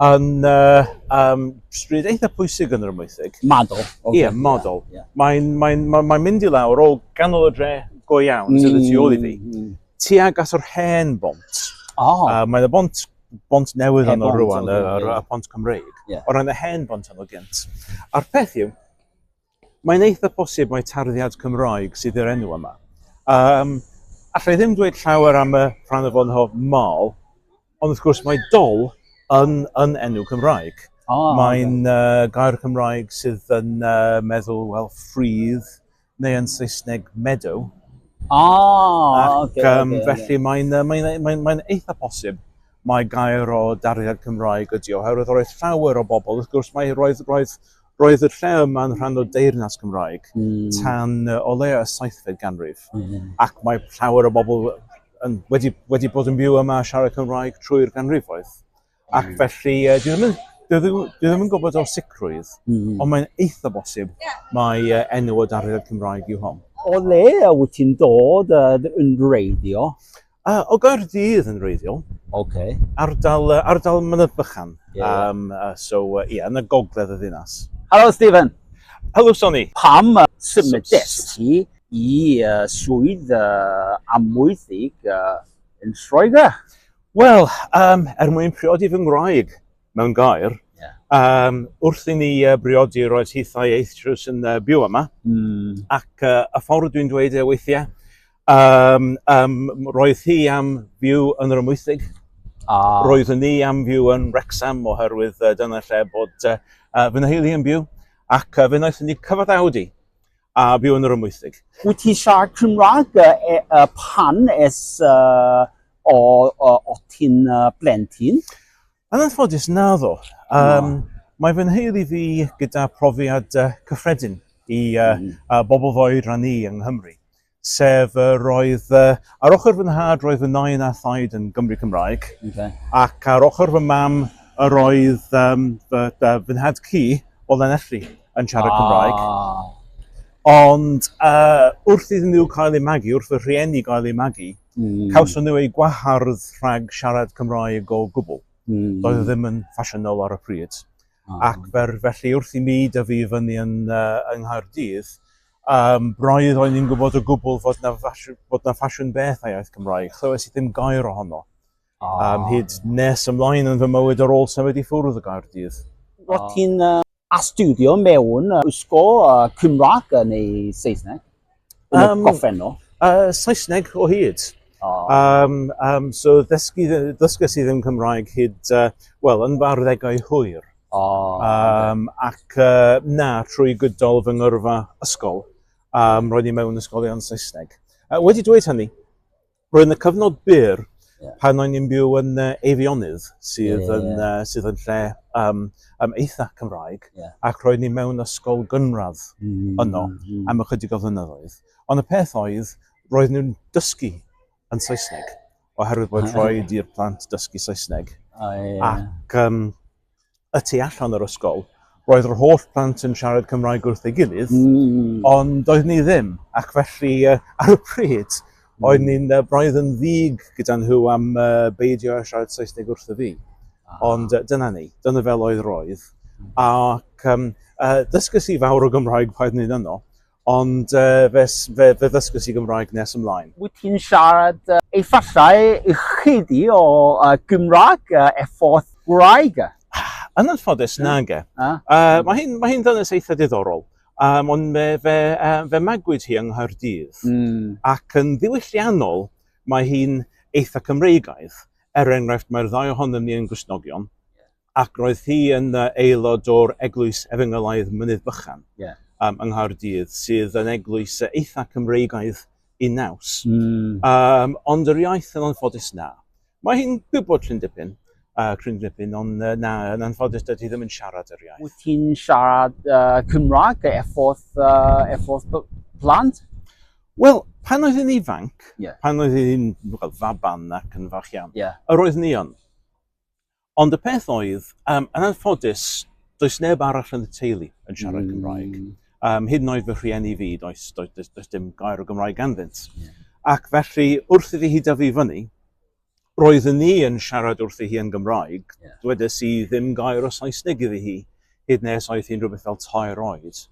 yn uh, um, stryd eitha pwysig yn yr ymwythig. Madol. Okay. Ie, madol. Yeah, yeah. Mae'n mae, mae, mae mynd i lawr o ganol y dre go iawn mm, sydd y tu ôl i fi. Mm, mm. Tuag at yr hen bont. Oh. Uh, mae y bont bont newydd hen yno rwan, y, y, y pont Cymreig. Yeah. O ran y hen bont yno gynt. A'r peth yw, Mae'n eitha posib mai tarddiad Cymraeg sydd i'r enw yma. Um, allai ddim dweud llawer am y rhan o fod yn hof mal, ond wrth gwrs mae dol yn, yn enw Cymraeg. Oh, Mae'n okay. uh, gair Cymraeg sydd yn uh, meddwl, wel, ffridd, neu yn Saesneg meadow. Ah, Ac, okay, um, okay, felly okay. mae'n uh, mae, mae, mae eitha posib mai gair o dariad Cymraeg ydy o, oherwydd roedd llawer o bobl, wrth gwrs mae roedd, roedd, roedd y lle yma'n rhan o deyrnas Cymraeg mm. tan uh, o le y saithfed ganrif. Mm -hmm. Ac mae llawer o bobl yn, wedi, wedi bod yn byw yma a siarad Cymraeg trwy'r ganrifoedd. Ac mm. felly, uh, dwi ddim yn, dwi ddim, dwi ddim yn gwybod o sicrwydd, mm -hmm. ond mae'n eitha bosib mae uh, enw o dariad Cymraeg yw hon. O le a wyt ti'n dod uh, yn reiddio? Uh, o Gaerdydd yn reiddiol. Okay. Ardal, uh, ardal Mynydd Bychan. Yeah. Um, uh, so, ie, uh, yeah, yn y gogledd y ddinas. Helo, Stephen. Helo, Sonny. Pam uh, symud ti i uh, swydd uh, amwythig uh, yn Lloegr? Wel, um, er mwyn priodi fy ngwraig mewn gair, yeah. um, wrth i ni uh, briodi roedd hithau eithtrws yn uh, byw yma, mm. ac uh, y ffordd dwi'n dweud e weithiau, Um, um, roedd hi am fyw yn yr ymwythig. Ah. Roedd ni am fyw yn Wrexham oherwydd uh, dyna lle bod uh, uh, fy nheulu yn byw. Ac uh, fe wnaethon ni cyfod awdi a byw yn yr ymwythig. Wyt ti siarad Cymraeg uh, uh, pan es uh, o, o, o ti'n uh, blentyn? Yn anffodus, naddo. Um, no. Mae fy nheulu fi gyda profiad uh, cyffredin i uh, mm. uh, bobl fo'i ran i yng Nghymru. Sef uh, roedd, uh, ar ochr fy nhad roedd fy nain a thaid yn Gymru Cymraeg, okay. ac ar ochr fy mam yr oedd um, fy, uh, fy nhad cu o Lanelli. yn siarad oh. Cymraeg. Ond uh, wrth iddyn nhw cael eu magu, wrth y rhieni gael eu magu, mm. cawson nhw eu gwahardd rhag siarad Cymraeg o gwbl. Mm. Doedd e ddim yn ffasiynol ar y pryd. Oh. Ac fer, felly wrth i mi dyfu i fyny yn, uh, yng Nghaerdydd, um, braidd o'n i'n gwybod o gwbl fod na, ffasiwn, fod na ffasiwn beth a iaith Cymraeg. Chlywes i ddim gair ohono. Oh. Um, hyd nes ymlaen yn fy mywyd ar ôl symud i ffwrdd y Gaerdydd. Roedd ti'n uh, astudio mewn ysgol uh, Cymraeg neu Saesneg? Yn um, y goffennol? Uh, Saesneg o hyd. Oh. Um, um, so ddysgu, ddysgu sydd yn Cymraeg hyd, uh, wel, yn farddegau hwyr. Oh, um, okay. Ac uh, na, trwy gydol fy ngyrfa ysgol, um, roedd i mewn ysgolion Saesneg. Uh, wedi dweud hynny, Roedd yna cyfnod byr yeah. pan o'n i'n byw yn uh, Eifionydd, sydd, yeah, yeah, yn, yeah. Uh, sydd yn lle um, um, eitha Cymraeg, yeah. ac roedd ni mewn ysgol gynradd mm, yno mm. am ychydig o flynyddoedd. Ond y peth oedd, roedd nhw'n dysgu yn Saesneg, oherwydd bod ah, rhaid i'r plant dysgu Saesneg. Oh, yeah. Ac um, y tu allan yr ysgol, roedd yr holl plant yn siarad Cymraeg wrth ei gilydd, mm. ond doedd ni ddim, ac felly uh, ar y pryd, mm. oedd ni'n uh, braidd yn ddig gyda nhw am uh, beidio a siarad Saesneg wrth y fi. Ah. Ond uh, dyna ni, dyna fel oedd roedd. Mm. Ac um, uh, dysgu si fawr o Gymraeg paedd ni'n yno, Ond fe ddysgwys i Gymraeg nes ymlaen. Wyt ti'n siarad efallai ychydig o Gymraeg er ffordd gwraig? Yn anffodus, nage. Mae hi'n mae hi'n ddynes eitha diddorol, yym ond fe fe yy fe magwyd hi yng Nghaerdydd. Mm. Ac yn ddiwylliannol, mae hi'n eitha Cymreigaidd. Er enghraifft, mae'r ddau ohonom ni yn Gristnogion. Ac roedd hi yn aelod o'r Eglwys Efengylaidd Mynydd Bychan yeah. um, yng Nghaerdydd, sydd yn eglwys eitha Cymreigaidd i naws. Mm. Um, ond yr iaith yn anffodus na. Mae hi'n gwybod llun dipyn, uh, cryn dipyn, ond uh, na, yn anffodus dydw i ddim yn siarad yr iaith. Wyt ti'n siarad uh, Cymraeg efforth, uh, efforth plant? Wel, pan oedd yn ifanc, yeah. pan oedd yn faban ac yn fach iawn, yeah. yr oedd ni yn. Ond y peth oedd, yym, yn anffodus, does neb arall yn y teulu yn siarad Cymraeg. Mm. Um, hyd yn oed fy rhieni fi, does, does, does, does dim gair o Gymraeg ganddynt. Yeah. Ac felly, wrth iddi hi dyfu fyny, roedd ni yn siarad wrth i hi yn Gymraeg, yeah. dwedes i ddim gair o Saesneg iddi hi, hyd nes oedd hi'n rhywbeth fel tair oed.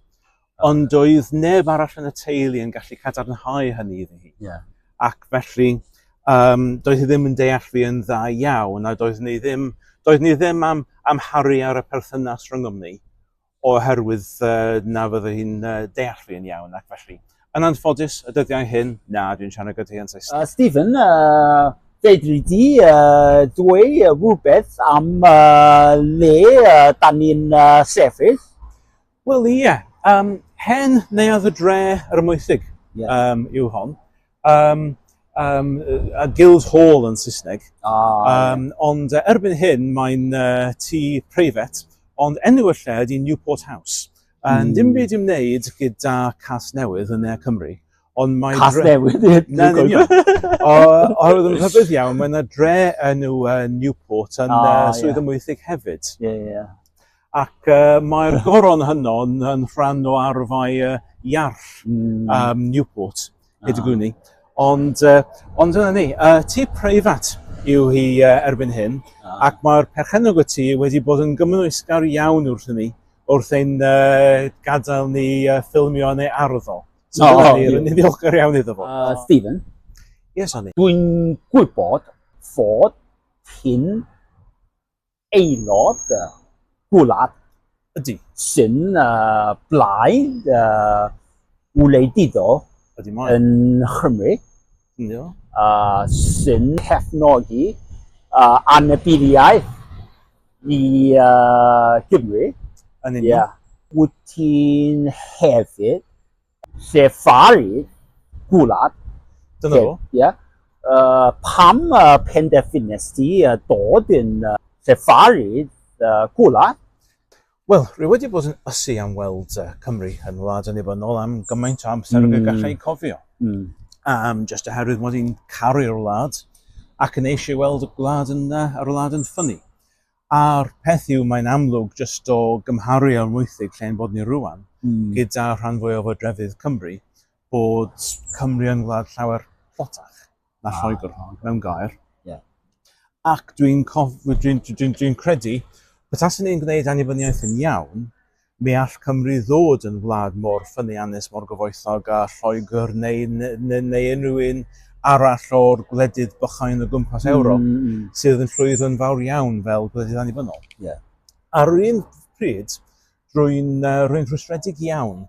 Ond doedd neb arall yn y teulu yn gallu cadarnhau hynny iddi hi. Yeah. Ac felly, um, doedd hi ddim yn deall fi yn dda iawn, a doedd ni ddim, doedd ni ddim am amharu ar y perthynas rhyngom ni, oherwydd uh, na fydde hi'n uh, deall fi yn iawn, ac felly. Yn anffodus, y dyddiau hyn, na, dwi'n siarad gyda hi yn Saesneg. Uh, Stephen, uh, fedri di uh, dweud rhywbeth am uh, le uh, da ni'n uh, sefyll? Wel ie, um, hen neuadd y dre ar y moethig yeah. um, yw hon. Um, um, a Guild Hall yn Saesneg. Ah, um, yeah. Ond uh, erbyn hyn mae'n uh, tŷ preifat, ond enw y lle ydy Newport House. A mm. dim byd i'w wneud gyda cas newydd yn Ne Cymru. Ond mae cas dre... newydd? Na, ddim iawn. Oherwydd yn rhybydd iawn, mae yna dre enw uh, Newport yn ah, uh, Swydd yeah. Ymwythig hefyd. Ie, yeah, ie. Yeah. Ac yy mae'r goron hynno yn yn rhan o arfau yy iarll mm. um, Newport, hyd y gwni. Ond, uh, ond dyna ni, uh, tu preifat yw hi uh, erbyn hyn, ah. ac mae'r perchennog y tu wedi bod yn gymwysgar iawn wrth ni, wrth ein uh, gadael ni uh, ffilmio yn ei arddol. So, oh, oh, ni'n ddiolchgar iawn iddo fo. Uh, Stephen? Yes, Annie. Dwi'n gwybod fod hyn aelod gwlad ydy. Sy'n uh, blaid uh, wleidyddol yn Nghymru. Yeah. Uh, sy'n cefnogi uh, anabyddiaeth i uh, Gymru. Yn union. Yeah. Wyt ti'n hefyd Lle Fari, Gwlad. Dyna fo. Ie. Uh, pam uh, penderfynes ti uh, dod yn uh, Lle Fari, uh, Gwlad? Wel, rwy wedi bod yn ysu am weld uh, Cymru yn wlad yn nibynnol am gymaint o amser mm. y hmm. gallai cofio. Mm. Um, just oherwydd mod i'n caru'r wlad ac yn eisiau weld y gwlad yn, uh, yr wlad yn ffynnu. A'r peth yw, mae'n amlwg jyst o gymharu â'r Moethwg lle ein bod ni rŵan, gyda rhan fwyaf o drefydd Cymru, bod Cymru yn wlad llawer tlotach na Lloegr, mewn gair. Ac dwi'n credu, petaswn i'n gwneud annibyniaeth yn iawn, Ni all Cymru ddod yn wlad mor ffyniannus, mor gyfoethog â Lloegr neu, neu, neu unrhyw un arall o'r gwledydd bychain o gwmpas mm, Ewrop mm, mm. sydd yn llwyddo'n fawr iawn fel gwledydd annibynnol. Yeah. Ar un pryd, rwy'n uh, rhwystredig iawn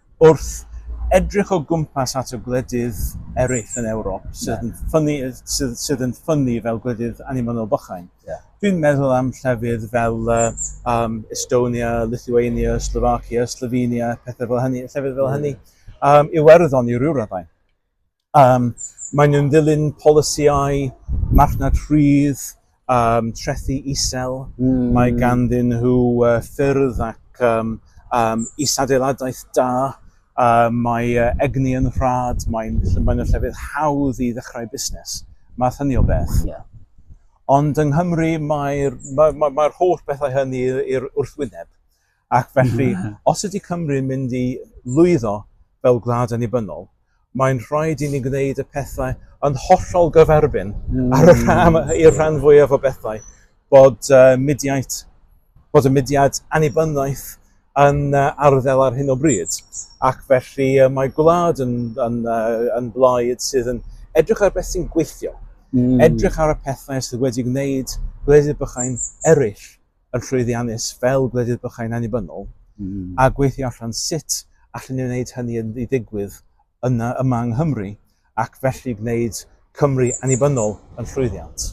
Wrth edrych o gwmpas at y gwledydd eraill yn Ewrop sydd yn ffynnu, sydd, sydd yn ffynnu fel gwledydd annibynnol bychain, yeah. dwi'n meddwl am llefydd fel um, Estonia, Lithuania, Slovakia, Slovenia, pethau fel hynny, llefydd fel hynny, um, Iwerddon i ryw raddau. Um, maen nhw'n dilyn polisïau marchnad rhydd, um, trethi isel. Mm. Mae ganddyn nhw uh, ffyrdd ac um, um, isadeiladau da. Uh, mae uh, egni yn rhad, mae'n mae nhw'n llefydd hawdd i ddechrau busnes. Mae hynny o beth. Yeah. Ond yng Nghymru mae'r mae, mae, mae holl bethau hynny i'r wrthwyneb. Ac felly, os ydy Cymru'n mynd i lwyddo fel gwlad annibynnol, mae'n rhaid i ni gwneud y pethau yn hollol gyferbyn ar y rhan, i'r rhan fwyaf o bethau bod, uh, mudiaid, bod y mudiad annibyniaeth yn uh, arddel ar hyn o bryd. Ac felly uh, mae gwlad yn, yn, uh, yn blaid sydd yn edrych ar beth sy'n gweithio, mm. edrych ar y pethau sydd wedi gwneud gwledydd bychain eraill yn llwyddiannus fel gwledydd bychain annibynnol, a gweithio allan sut allen ni wneud hynny i ddigwydd yna yma yng Nghymru, ac felly gwneud Cymru annibynnol yn llwyddiant.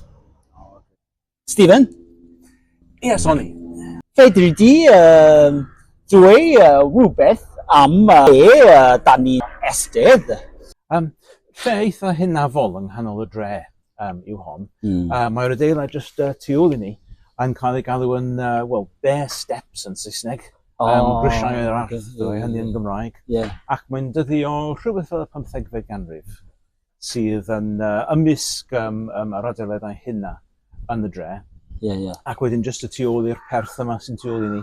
Stephen? Ia, Sonny. Fedri di dweud rhywbeth am be da ni'n estedd? Lle eitha hunafol yng nghanol y dre. um, yw hon. Mm. Uh, Mae'r adeilad just uh, tu ôl i ni yn cael ei galw yn, uh, well, bare steps yn Saesneg. Oh, um, grisiau yr arth, yeah, hynny yn Gymraeg. Yeah. Ac mae'n dyddi o rhywbeth fel y 15fed ganrif sydd yn uh, ymysg um, um, yr adeiladau hynna yn y dre. Yeah, yeah. Ac wedyn just y tu ôl i'r perth yma sy'n tu ôl i ni.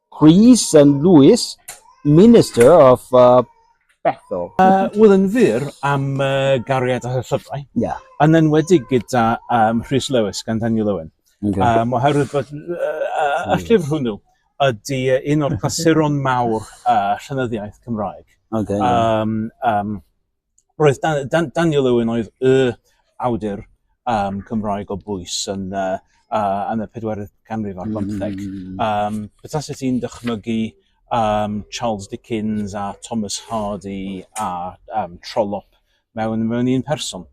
Chris and Lewis, Minister of uh, Bethel. Uh, Wel, yn fyr am uh, gariad a llyfrau, yeah. yn enwedig gyda um, Rhys Lewis gan Daniel Owen. Okay. Um, oherwydd bod uh, uh, y llyfr hwnnw ydy un o'r clasuron mawr uh, llenyddiaeth Cymraeg. Okay, yeah. um, um, roedd Dan, Dan, Daniel Owen oedd y awdur um, Cymraeg o bwys yn, uh, uh, yn y 4 canrif ar bymtheg. Mm. -hmm. um, Bethau sydd ti'n dychmygu um, Charles Dickens a Thomas Hardy a um, Trollope mewn, mewn un person.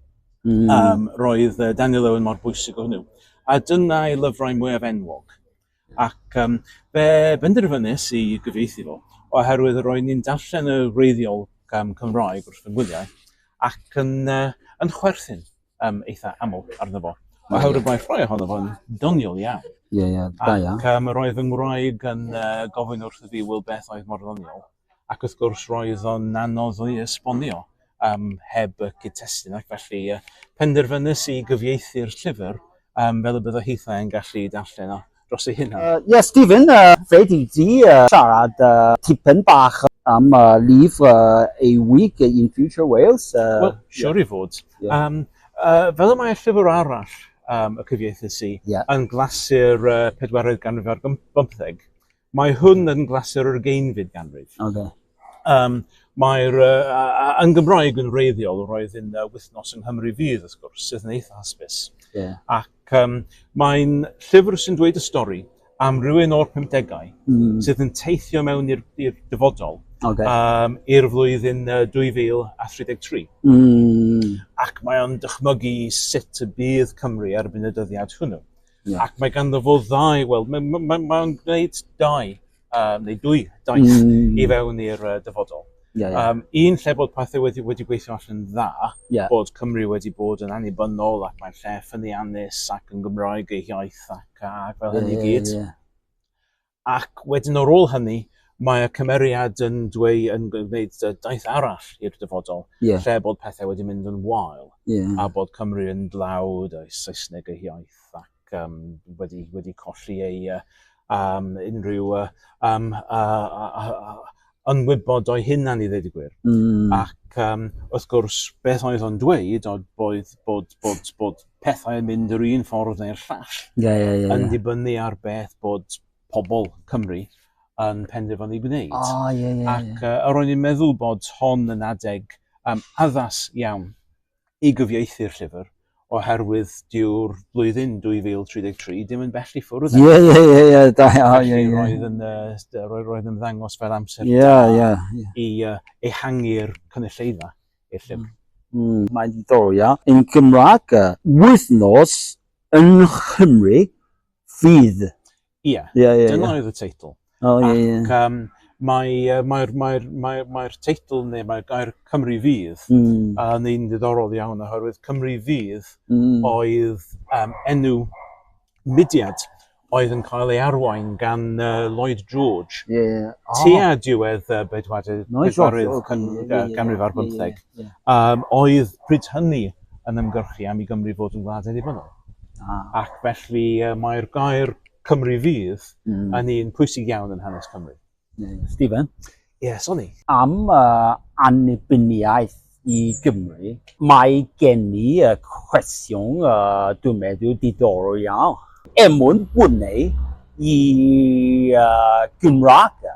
Mm. Um, roedd uh, Daniel Owen mor bwysig o hwnnw. A dyna'i lyfrau mwyaf enwog. Ac um, fe benderfynais i gyfieithu fo, oherwydd roedd ni'n darllen y wreiddiol um, Cymraeg wrth fy ngwyliau, ac yn, uh, yn chwerthin um, eitha aml arno fo. Oherwydd mae rhoi ohono fo'n doniol iawn. Ie, ie, da iawn. Ac um, roedd fy ngwraig yn uh, gofyn wrth y fi, wel beth oedd mor ddoniol? Ac wrth gwrs roedd o'n anodd o'i esbonio yym heb y cyd-testun ac felly yy penderfynais i gyfieithu'r llyfr yym fel y bydde hithau yn gallu darllen o dros ei hunan. Yy ie Stephen, yy rhaid i ti yy siarad yy tipyn bach am y lifr yy A Week in Future Wales yy ie. Wel, siwr i fod. Ie. Yym yy fel y mae llyfr arall yym y cyfieithus i... Ie. ...yn glasur y pedwaredd ganrif ar bymp- bymtheg Mae hwn yn glasur yr ugeinfyd ganrif. Okay. Um, Mae'r, uh, yn Gymraeg yn reiddiol, roedd yn uh, wythnos yng Nghymru fydd, wrth gwrs, sydd yn eitha hysbys. Yeah. Ac um, mae'n llyfr sy'n dweud y stori am rhywun o'r 50au mm. sydd yn teithio mewn i'r dyfodol okay. um, i'r flwyddyn uh, 2033. Mm. Ac mae'n dychmygu sut y bydd Cymru erbyn y dyddiad hwnnw. Yeah. Ac mae ganddo fo ddau, wel, mae'n ma, ma, ma gwneud dau, um, neu dwy daith mm. i fewn i'r uh, dyfodol. Yeah, yeah. Um, un lle bod pethau wedi, wedi gweithio allan dda, yeah. bod Cymru wedi bod yn annibynnol ac mae'n lle ffynnu anus ac yn Gymraeg ei hiaith ac, ac fel hynny yeah, gyd. Yeah, yeah. Ac wedyn ar ôl hynny, mae y cymeriad yn dweud yn gwneud daith arall i'r dyfodol, yeah. lle bod pethau wedi mynd yn wael, yeah. a bod Cymru yn dlawd, a Saesneg ei hiaith, ac um, wedi, wedi colli ei uh, um, unrhyw uh, um, uh, uh, uh, yn wybod o'i hunan i ddweud y gwir. Mm. Ac um, wrth gwrs, beth oedd o'n dweud oedd bod, bod, bod, bod pethau yn mynd yr un ffordd neu'r llall. Yeah, yeah, yeah, yn dibynnu ar beth bod pobl Cymru yn penderfynu gwneud. Oh, yeah, yeah, Ac uh, ro'n i'n meddwl bod hon yn adeg um, addas iawn i gyfieithu'r llyfr, oherwydd dyw'r flwyddyn 2033 ddim yn bell i ffwrdd. Ie, ie, ie, ie, da iawn. Ie, ie. Roedd yn, uh, roedd, roedd yn ddangos fel amser ie, da ie, ie. i uh, ehangu'r cynulleidfa i'r llyfr. Mm. mm. Mae'n diddorol, ia. Yn Gymraeg, wythnos yn Nghymru fydd. Ie, yeah, yeah, dyna yeah. oedd y teitl. Oh, ie, ie. Ac um, mae'r mae, mae, mae, mae, mae teitl neu mae'r gair Cymru Fydd mm. yn un ddiddorol iawn oherwydd Cymru Fydd mm. oedd um, enw mudiad oedd yn cael ei arwain gan uh, Lloyd George. Yeah. Oh. Tua diwedd uh, bedwaredd, bedwaredd canrif ar bymtheg. Um, oedd pryd hynny yn ymgyrchu am i Gymru fod yn wlad annibynnol. Ah. Ac felly uh, mae'r gair Cymru fydd mm. yn un pwysig iawn yn hanes Cymru. Stephen? Yes, o'n i. Am uh, annibyniaeth i Gymru, mae gen i uh, cwestiwn uh, dwi'n meddwl diddorol iawn. Er mwyn gwneud i uh, Gymraeg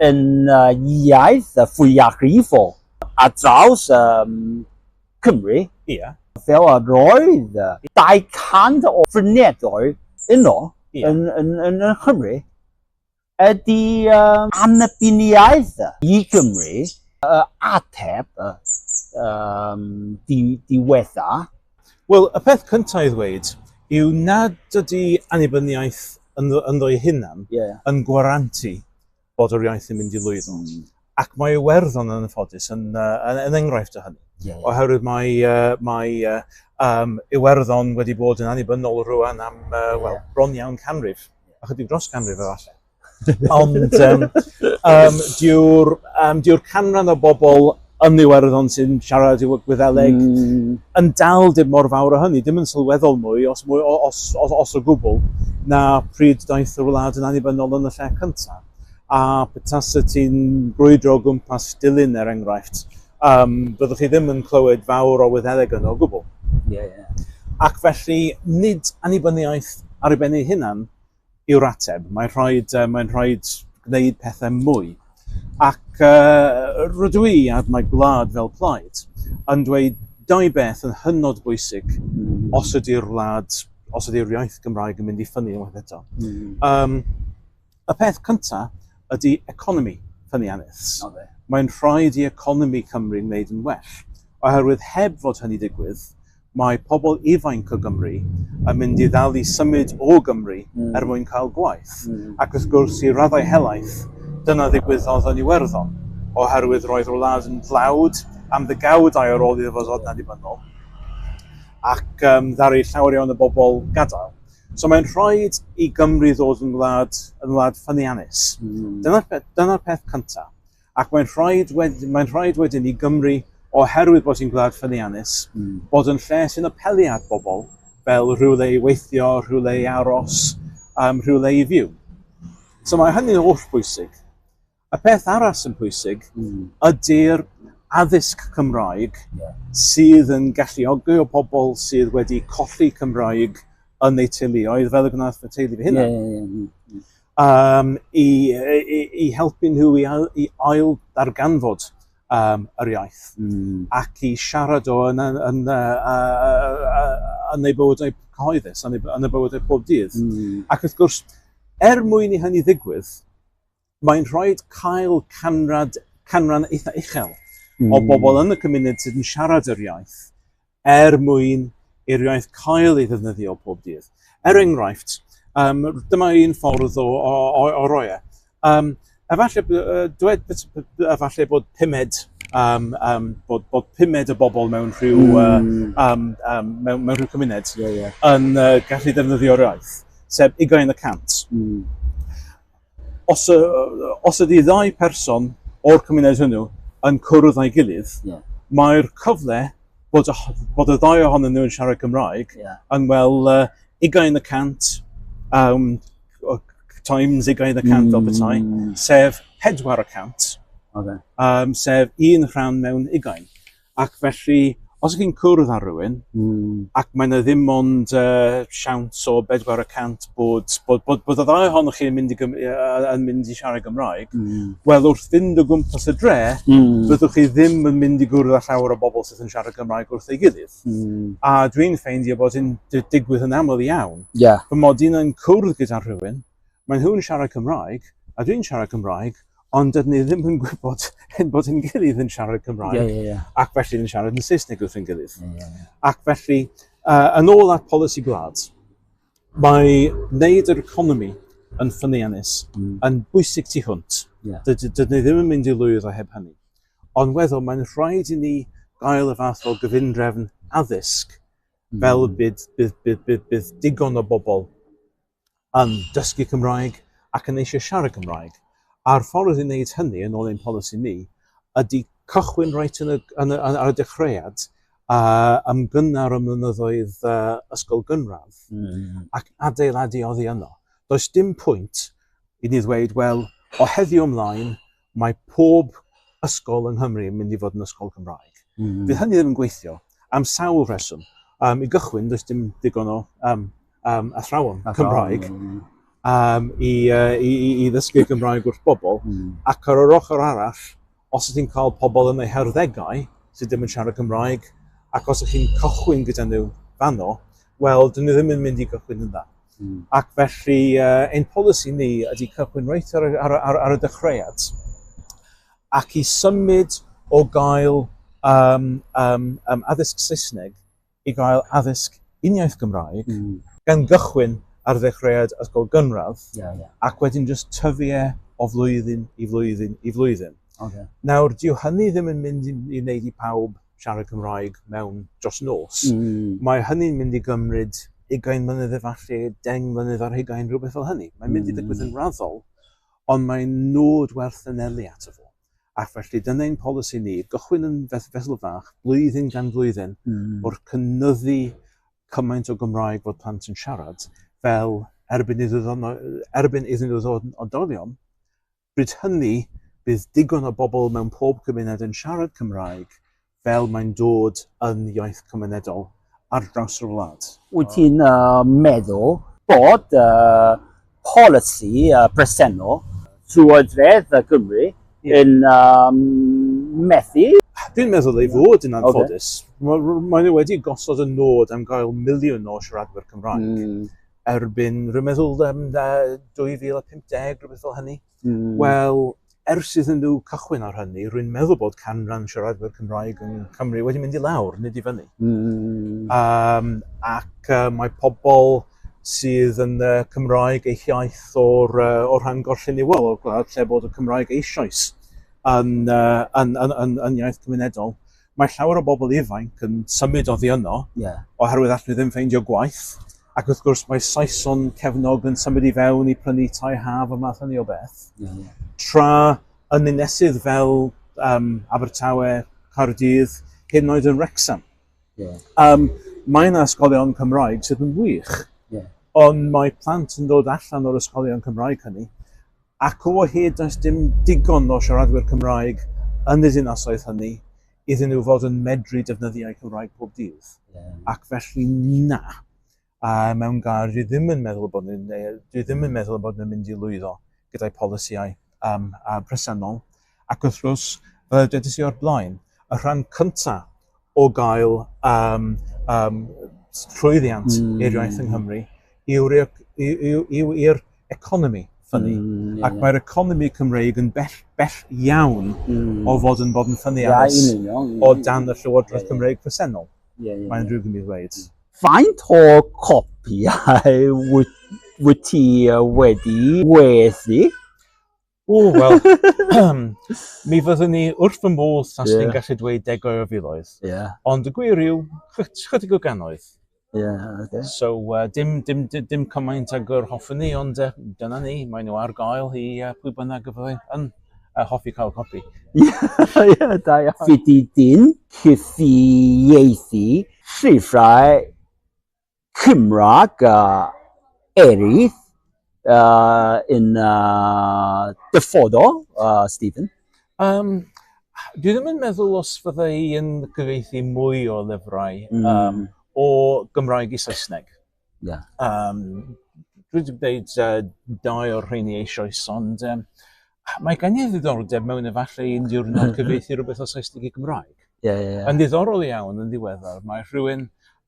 yn y iaith fwyafrifol ar draws um, Cymru. Yeah. Fel a roedd 200 o fryniadoedd yno yeah. yn, yn, yn, yn Cymru ydy um, annibyniaeth i Gymru uh, ateb uh, um, di, diwetha Wel, y peth cyntaf i ddweud yw nad ydy annibyniaeth ynddo, ynddo ei hunan yeah. yn gwarantu bod yr iaith yn mynd i lwyddo. Mm. Ac mae Iwerddon yn ffodus yn, yn, yn enghraifft o hynny. Yeah, yeah. Oherwydd mae, uh, mae uh, um, Iwerddon wedi bod yn annibynnol rwan am uh, yeah. well, bron iawn canrif, a chydig dros canrif efallai. Ond um, um, diw'r um, diw canran o bobl yn Iwerddon sy'n siarad i Gwyddeleg mm. yn dal dim mor fawr o hynny, dim yn sylweddol mwy, os, mwy, os, os, os o gwbl, na pryd daeth y wlad yn annibynnol yn y lle cyntaf. A petas y ti'n brwydro gwmpas dilyn er enghraifft, um, byddwch chi ddim yn clywed fawr o Wyddeleg yno o gwbl. Yeah, yeah. Ac felly, nid annibyniaeth ar ei ben ei hunan, yw'r ateb. Mae'n rhoi, mae'n rhoi gwneud pethau mwy. Ac uh, rydw i a mae gwlad fel plaid yn dweud dau beth yn hynod bwysig mm. os ydy'r wlad, os ydy'r iaith Gymraeg yn mynd i ffynnu unwaith eto. Mm. Um, y peth cyntaf ydy economi ffyniannus. Okay. Mae'n rhaid i economi Cymru wneud yn well. Oherwydd heb fod hynny digwydd, Mae pobl ifainc o Gymru yn mynd i ddal i symud o Gymru er mwyn cael gwaith, ac wrth gwrs, i raddau helaeth, dyna ddigwyddodd yn Iwerddon, oherwydd roedd yr wlad yn dlawd am ddegawd aur ar ôl iddo fo ddod yn annibynnol, ac yym ddaru llawer iawn o bobl gadael. So mae'n rhaid i Gymru ddod yn wlad, yn wlad ffyniannus. Dyna'r peth, dyna'r peth cyntaf. Ac mae'n rhaid, wed, mae'n rhaid wedyn i Gymru, oherwydd bod hi'n gwlad ffyniannus, mm. bod yn lle sy'n apelu at bobl fel rhywle i weithio, rhywle i aros, um, rhywle i fyw. So mae hynny'n holl bwysig. Y peth arall sy'n pwysig mm. ydy'r addysg Cymraeg sydd yn galluogi o pobl sydd wedi colli Cymraeg yn eu teuluoedd, fel y gwnaeth fy teulu fy hunan. Yeah, yeah, yeah. um, i, i, i helpu nhw i, i ail darganfod um, yr iaith mm. ac i siarad o yn, yn, yn, yn ei bywydau cyhoeddus, yn ei, yn ei bywydau pob dydd. Mm. Ac wrth gwrs, er mwyn i hynny ddigwydd, mae'n rhoi cael canrad, canran eitha uchel mm. o hmm. bobl yn y cymuned sydd yn siarad yr iaith er mwyn i'r iaith cael ei ddefnyddio pob dydd. Er enghraifft, um, dyma un ffordd o, o, o, o roi e. Um, efallai, dwed, efallai bod pumed, um, um, bod, bod pumed y bobl mewn rhyw, mm. uh, um, um, mewn, mewn rhyw cymuned yeah, yeah. yn uh, gallu defnyddio'r iaith, sef ugain y cant. Mm. Os, os ydy ddau person o'r cymuned hwnnw yn cwrdd â'i gilydd, yeah. mae'r cyfle bod, bod y ddau ohonyn nhw yn siarad Cymraeg yeah. yn wel uh, ugain y cant um, times ugain y cant mm. o bethau, sef pedwar y cant, okay. um, sef un rhan mewn ugain. Ac felly, os ych chi'n cwrdd â rhywun, ac mae yna ddim ond siawns o bedwar y cant bod y ddau ohonoch chi yn mynd i siarad Gymraeg, wel wrth fynd o gwmpas y dre, fyddwch chi ddim yn mynd i gwrdd â llawer o bobl sydd yn siarad Gymraeg wrth ei gilydd. A dwi'n ffeindio bod hyn yn digwydd yn aml iawn. Fy mod i'n cwrdd gyda rhywun, Maen nhw'n siarad Cymraeg, a dwi'n siarad Cymraeg, ond dydyn ni ddim yn gwybod hyn bod yn gilydd yn siarad Cymraeg, yeah, yeah, yeah. ac felly yn siarad yn Saesneg wrth yn gilydd. Yeah, yeah, yeah. Ac felly, uh, yn ôl at polisi gwlad, mae wneud yr economi yn ffyniannus, mm. yn bwysig tu hwnt. Yeah. Dydyn ni ddim yn mynd i lwydd o heb hynny. Ond weddol, mae'n rhaid i ni gael y fath o gyfundrefn addysg mm. fel bydd, bydd, bydd, bydd, bydd digon o bobl yn dysgu Cymraeg ac yn eisiau siarad Cymraeg, a'r ffordd i wneud hynny, yn ôl ein polisi ni, ydy cychwyn reit yn y, yn y, ar y dechreuad, uh, ymgynnar ym mynyddoedd uh, ysgol gynradd, mm. ac adeiladu oddi yno. Does dim pwynt i ni ddweud, wel, o heddiw ymlaen, mae pob ysgol yng Nghymru yn mynd i fod yn ysgol Gymraeg. Mm -hmm. Fydd hynny ddim yn gweithio am sawl rheswm. Um, I gychwyn, does dim digon o um, um, athrawon Cymraeg um, i, uh, i, i, i ddysgu Cymraeg wrth bobl. Mm. Ac ar yr ochr arall, os ydych chi'n cael pobl yn eu herddegau sydd ddim yn siarad Cymraeg, ac os ydych chi'n cychwyn gyda nhw fanno, wel, dyn nhw ddim yn mynd i gychwyn yn dda. Mm. Ac felly, uh, ein polisi ni ydy cychwyn reit ar, ar, ar, ar y dechreuad ac i symud o gael um, um, um, addysg Saesneg i gael addysg uniaith Gymraeg, mm. gan gychwyn ar ddechreuad ysgol gynradd, yeah, yeah. ac wedyn just tyfu e o flwyddyn i flwyddyn i flwyddyn. Okay. Nawr, dyw hynny ddim yn mynd i, i wneud i pawb siarad Cymraeg mewn dros nos. Mm. Mae hynny'n mynd i gymryd ugain mlynedd efallai, deng mlynedd ar hugain, rhywbeth fel hynny. Mae'n mynd mm. i ddigwydd yn raddol, ond mae'n nod werth yn eli ato fo. Ac felly dyna ein polisi ni, gychwyn yn feth fesul fach, blwyddyn gan flwyddyn, mm. o'r cynnyddu cymaint o Gymraeg fod plant yn siarad, fel erbyn iddyn nhw ddod yn oedolion, Bryd hynny, bydd digon o bobl mewn pob cymuned yn siarad Cymraeg fel mae'n dod yn iaith cymunedol ar draws yr wlad. Wyt ti'n meddwl bod y polisi presennol Llywodraeth Cymru yn methu? Dwi'n meddwl ei fod yn anffodus. Maen nhw wedi gosod y nod am gael miliwn o siaradwyr Cymraeg. erbyn rhyw meddwlder yn 2050, rhywbeth fel hynny. Mm. Wel, ers iddyn nhw cychwyn ar hynny, rwy'n meddwl bod canran siaradwyr Cymraeg yn Cymru wedi mynd i lawr, nid i fyny. Mm. Um, ac uh, mae pobl sydd yn uh, Cymraeg eich iaith o'r, uh, o'r rhan gorlleniwol o'r gwlad lle bod y Cymraeg eisoes yn, uh, yn, yn, yn, yn iaith cymunedol. Mae llawer o bobl ifainc yn symud oddi yno oherwydd allen nhw ddim ffeindio gwaith, ac wrth gwrs mae Saeson cefnog yn symud i fewn i prynu tai haf a math hynny o beth, tra yn ninesydd fel yym Abertawe, Caerdydd, hyd yn oed yn Wrecsam. Yym mae 'na ysgolion Cymraeg sydd yn wych, ond mae plant yn dod allan o'r ysgolion Cymraeg hynny, ac o hyd does dim digon o siaradwyr Cymraeg yn y dinasoedd hynny iddyn nhw fod yn medru defnyddio'u Cymraeg pob dydd. Ac felly, na, a mewn gair, dwi ddim yn meddwl bod ni'n, neu dwi ddim yn meddwl bod ni'n mynd i lwyddo gyda'i polisïau um, presennol. Ac wrth gwrs, fel dwedais i o'r blaen, y rhan cyntaf o gael um, um, llwyddiant mm. i'r iaith yng Nghymru yw'r yw, yw, yw economi ffynnu. Mm, yeah, Ac mae'r economi Cymreig yn bell, bell iawn mm. o fod yn bod yn ffynnu yeah, aros yeah, yeah, yeah, o dan y Llywodraeth yeah, Cymreig presennol. Yeah, yeah, Mae'n rhywbeth i ddweud. Faint o copiau wyt ti wedi wedi O wel mi fyddwn ni wrth fy modd tasa yeah. ni'n gallu dweud degoedd o filoedd. Yeah. Ond y gwir yw, chydig o ganoedd. Yeah, okay. So uh, dim, dim, dim, dim cymaint ag yr hoffwn ni, ond uh, dyna ni, mae nhw ar gael i uh, pwy bynnag y fyddai yn uh, hoffi cael copi. Ie, yeah, da iawn. Fyddi dyn cyfieithu llyfrau Cymraeg eraill yn y dyfodol, Stephen? Yym, dwi ddim yn meddwl os fydda i yn cyfieithu mwy o lyfrau yym o Gymraeg i Saesneg. Ie. Yym dwi 'di gwneud yy dau o'r rheini eisoes ond yym Mae gen i ddiddordeb mewn efallai un diwrnod cyfeithi rhywbeth o Saesneg i Gymraeg. Ie, ie, ie. Yn ddiddorol iawn yn ddiweddar, mae rhywun,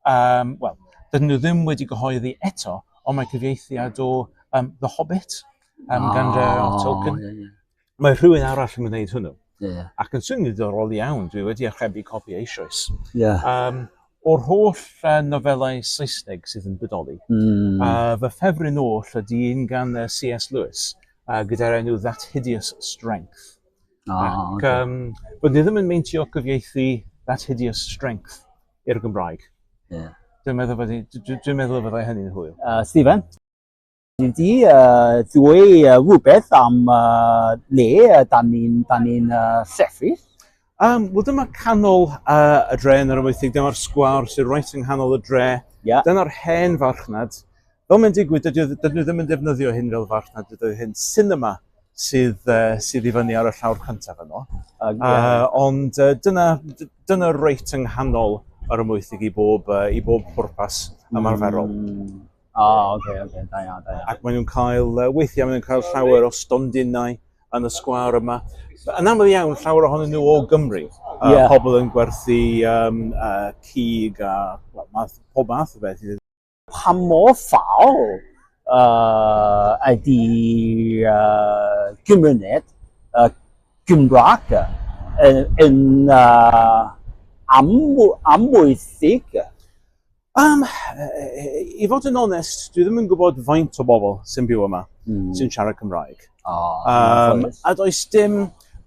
um, wel, dydyn nhw ddim wedi gyhoeddi eto, ond mae cyfieithiad o um, The Hobbit um, oh, gan J.R.R. Ah, Tolkien. Yeah, yeah. Mae rhywun arall yn gwneud hwnnw. Yeah. Ac yn swnio'n ddiddorol iawn, dwi wedi achrebu copi eisoes. Yeah. Um, o'r holl uh, nofelau Saesneg sydd yn bodoli, mm. uh, fy ffefryn oll ydy un gan uh, C.S. Lewis, uh, gyda'r enw That Hideous Strength. Oh, Ac okay. um, bod ni ddim yn meintio cyfieithu That Hideous Strength i'r Gymraeg. Yeah. Dwi'n meddwl bod dwi'n meddwl bod hynny'n hwyl. Uh, Stephen? Dwi wedi uh, dweud uh, rhywbeth am uh, le uh, da ni'n ni uh, sefyll. Um, Wel, dyma canol uh, y dre yn yr ymwythig, dyma'r sgwar sy'n rhaid yng nghanol y dre. Yeah. Dyna'r hen farchnad. Fel mae'n digwydd, dydyn nhw ddim yn defnyddio hyn fel farchnad, dydyn hyn cinema sydd, uh, sydd i fyny ar y llawr cyntaf yno. Uh, yeah. uh, ond uh, dyna, dyna reit yng nghanol yr ymwythig i bob, uh, i bob pwrpas ymarferol. Mm. O, oh, oce, okay, oce, okay. da iawn, da iawn. Ac maen nhw'n cael, uh, weithiau maen nhw'n cael llawer o stondinau yn y sgwar yma. Yn aml iawn, llawer ohonyn nhw o Gymru. Uh, yeah. Pobl yn gwerthu um, uh, cig a well, math, pob math o beth. Pa mor ffal uh, ydy uh, gymuned uh, Gymraeg yn, yn uh, amwythig? Um, I fod yn onest, dwi ddim yn gwybod faint o bobl sy'n byw yma, mm. sy'n siarad Cymraeg. Oh, um, a does dim,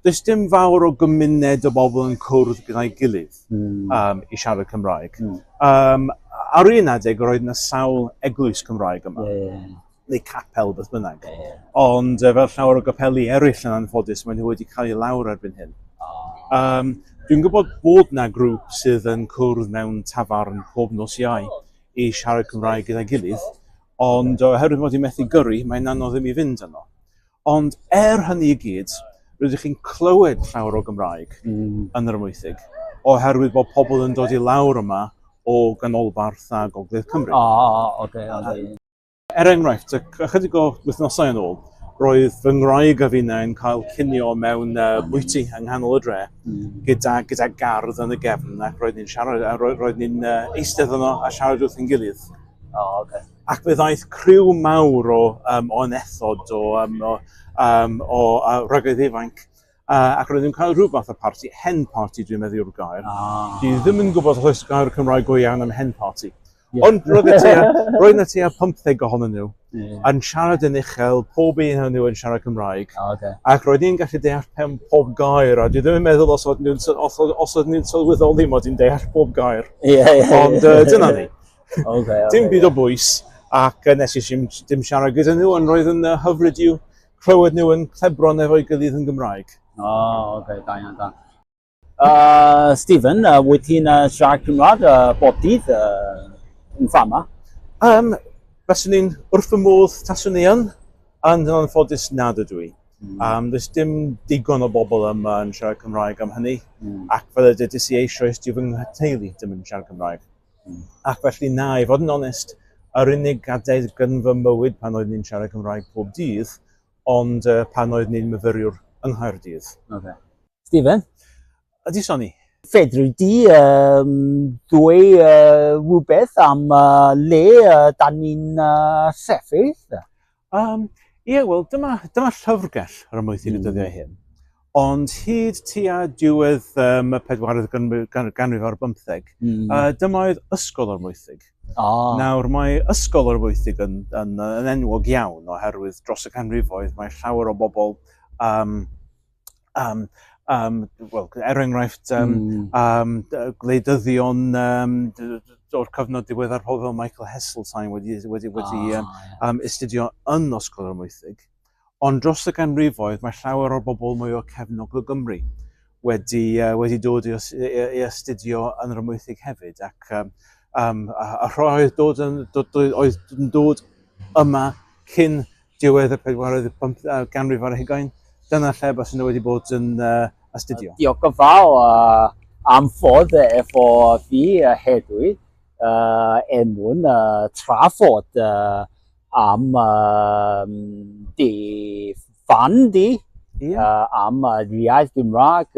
does dim fawr o gymuned o bobl yn cwrdd gyda'i gilydd mm. um, i siarad Cymraeg. Mm. Um, ar un adeg, roedd yna sawl eglwys Cymraeg yma. Yeah, yeah. neu capel, beth bynnag. Ie. Ond uh, fel llawer o gapeli eraill yn anffodus, maen nhw wedi cael ei lawr erbyn hyn. Um, dwi'n gwybod bod na grŵp sydd yn cwrdd mewn tafarn pob nos iau i siarad Cymraeg gyda'i gilydd, ond oherwydd mod i'n methu gyrru, mae'n anodd i mi fynd yno. Ond er hynny i gyd, rydych chi'n clywed llawer o Gymraeg mm. yn yr ymwythig, oherwydd bod pobl yn dod i lawr yma o ganolbarth a gogledd Cymru. O, oh, oce, okay, oce. Okay. Er enghraifft, ychydig o wythnosau yn ôl, roedd fy ngwraig a finnau yn cael cinio mewn uh, bwyty yng nghanol y dre mm. gyda, gyda gardd yn y gefn ac roedd ni'n siarad, a roedd, roedd ni'n uh, eistedd yno a siarad wrth yn gilydd. Oh, okay. Ac fe ddaeth criw mawr o, um, o anethod, o, um, o, um, o uh, rygaidd ifanc, uh, ac roedd ni'n cael rhyw fath o party, hen party dwi'n meddwl yw'r gair. Ah. Dwi ddim yn gwybod os oes gair Cymraeg go iawn am hen party. Yeah. Ond roedd y tua, roedd y tua 50 ohonyn nhw yeah. yn siarad yn uchel, pob un o'n nhw yn siarad Cymraeg. Oh, okay. Ac roedd ni'n gallu deall pen pob gair, a dwi ddim yn meddwl os oedd nhw'n os, os oedd nhw'n sylweddoli mod i'n deall pob gair. Yeah, yeah, Ond uh, dyna ni. okay, okay, dim byd yeah. o bwys, ac uh, nes i ddim, dim siarad gyda nhw, ond roedd yn uh, hyfryd i'w clywed nhw yn clebron efo'i gydydd yn Gymraeg. O, oh, oce, okay, da iawn, da. Uh, Stephen, uh, wyt ti'n uh, siarad Cymraeg uh, bob dydd uh, yn fama? Um, Faswn i'n wrth fy modd taswn i yn, ond yn anffodus nad ydw i. Mm. Um, does dim digon o bobl yma yn siarad Cymraeg am hynny, mm. ac fel y dydys i eisoes, dwi fy nghyteulu dim yn siarad Cymraeg. Mm. Ac felly na, i fod yn onest, yr unig gadair gyn fy mywyd pan oedd ni'n siarad Cymraeg pob dydd, ond uh, pan oedd ni'n myfyriwr yng Nghaerdydd. Okay. Stephen? Ydy, Sonny. Fedri di um, dwy uh, rhywbeth am uh, le uh, da ni'n uh, sefyll? Um, ie, wel, dyma, dyma llyfrgell ar y moethyn mm. y dyddiau hyn. Ond hyd tua diwedd um, y pedwaredd ganrif ar bymtheg, mm. uh, dyma oedd ysgol o'r moethig. Oh. Nawr, mae ysgol o'r moethig yn, yn, yn enwog iawn oherwydd dros y canrifoedd mae llawer o bobl um, um, um, well, er enghraifft, um, mm. um, gwleidyddion um, o'r cyfnod diweddar pobl fel Michael Heseltine wedi, wedi, wedi oh, um, yeah. um, astudio yn Osgol yr Mwythig. Ond dros y ganrifoedd mae llawer o'r bobl mwy o cefnog o Gymru wedi, uh, wedi dod i, i, astudio yn yr ymwythig hefyd. Ac um, um, a, a rhoi oedd dod yn, dod, oedd yn dod yma cyn diwedd y pedwaredd i'r pump uh, ganrif ar hugain. Dyna lle bas yna wedi bod yn uh, astudio. Diolch yn fawr uh, am fod efo fi uh, hedwi uh, er mwyn uh, trafod uh, am uh, di fan di, yeah. uh, am uh, iaith Gymraeg. Uh,